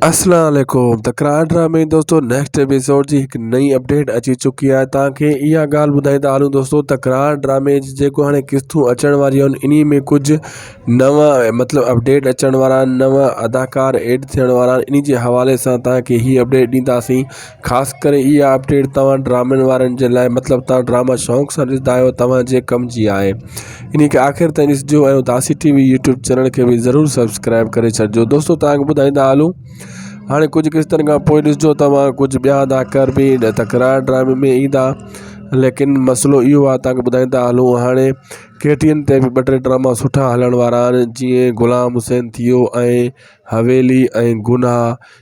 اسلام عليڪم ته ڪرائم ڊرامي دوستو نيڪسٽ ايپيسوڊ جي هڪ نئين اپڊيٽ اچي چڪي آهي توهان کي اها ڳالهه ٻڌائيندا هلون دوستو ته ڪرائم ڊرامي جي جيڪو هاڻي قسطون اچڻ واريون آهن انهي ۾ ڪجهه نوان مطلب اپڊيٽ اچڻ وارا آهن نوان اداڪار ايڊ ٿيڻ وارا آهن انهي جي حوالي سان توهان کي هي اپڊيٽ ڏينداسين خاص ڪري اها اپڊيٽ توهان ڊرامن وارن جي لاء مطلب توهان ڊراما شوق سان ڏسندا آهيو توهانجي ڪم جي آهي ان کي آخر تائين ڏسجو ۽ اداسي ٽي وي يوٽيوب چينل کي به ضرور سبسڪرائب ڪري ڇڏجو دوستو توهان کي ٻڌائيندا هلون هاڻي ڪجهه قسطن کان پوء ڏسجو توهان ڪجهه ٻيا اداڪار به تڪرار ڊرامي ۾ ايندا ليڪن مسئلو اهو آهي توهان کي ٻڌائيندا هلون هاڻي ڪي ٽي اين تي به ٻه ٽي ڊراما سٺا هلڻ وارا آهن جيئن غلام حسين ٿي ويو ۽ حويلي ۽ گناهه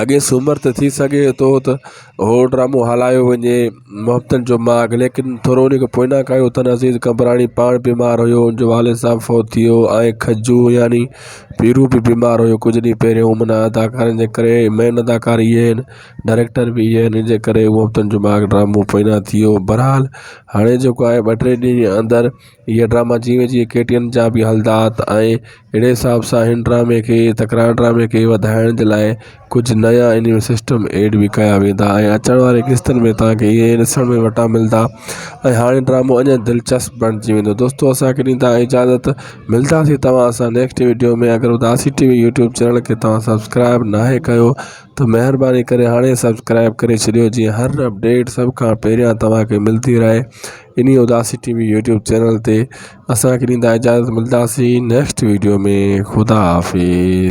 اڳي سومر تي ٿي سگهي ٿو ته اهو ڊرامو هلايو وڃي محبتن جو ماڳ ليڪن ٿورو ان کي پوئنا ڪيو تن عزيز قمبراڻي پاڻ بيمار هيو ان جو والد صاحب فوت ٿي ويو ۽ کجو يعني پيرو به بيمار هيو ڪجهه ڏينهن پهريون امن اداڪارن جي ڪري مين اداڪار اهي آهن ڊائريڪٽر به اهي آهن ان جي ڪري محبتن جو ماڳ ڊرامو پوئنا ٿي ويو بهرحال هاڻي جيڪو آهي ٻه ٽي ڏينهن جي اندر هيء ڊراما جيئن جيئن ڪي ٽي اين جا به هلندا ته آئين اهڙي حساب سان هن ڊرامي کي تڪرار ڊرامي کي وڌائڻ جي لاء ڪجهه نيا ان ۾ سسٽم ايڊ به ڪيا ويندا ۽ اچڻ واري قسطن ۾ تهان کي اهي ڏسڻ ۾ وٽا ملندا ۽ هاڻي ڊرامو اڃان دلچسپ بڻجي ويندو دوستو اسانکي ڏيندا اجازت ملداسين توهان سان نيڪسٽ وڊيو ۾ اگر اداسي ٽي وي يوٽيوب چينل کي توهان سبسڪرائب ناهي ڪيو ته مهرباني ڪري هاڻي سبسڪرائب ڪري ڇڏيو جيئن هر اپڊيٽ سڀ کان پهريان توهان کي ملدي رهي انهي اداسي ٽي وي يوٽيوب چينل تي اسان کي ڏيندا اجازت ملداسين نيڪسٽ ويڊيو ۾ خدا حافظ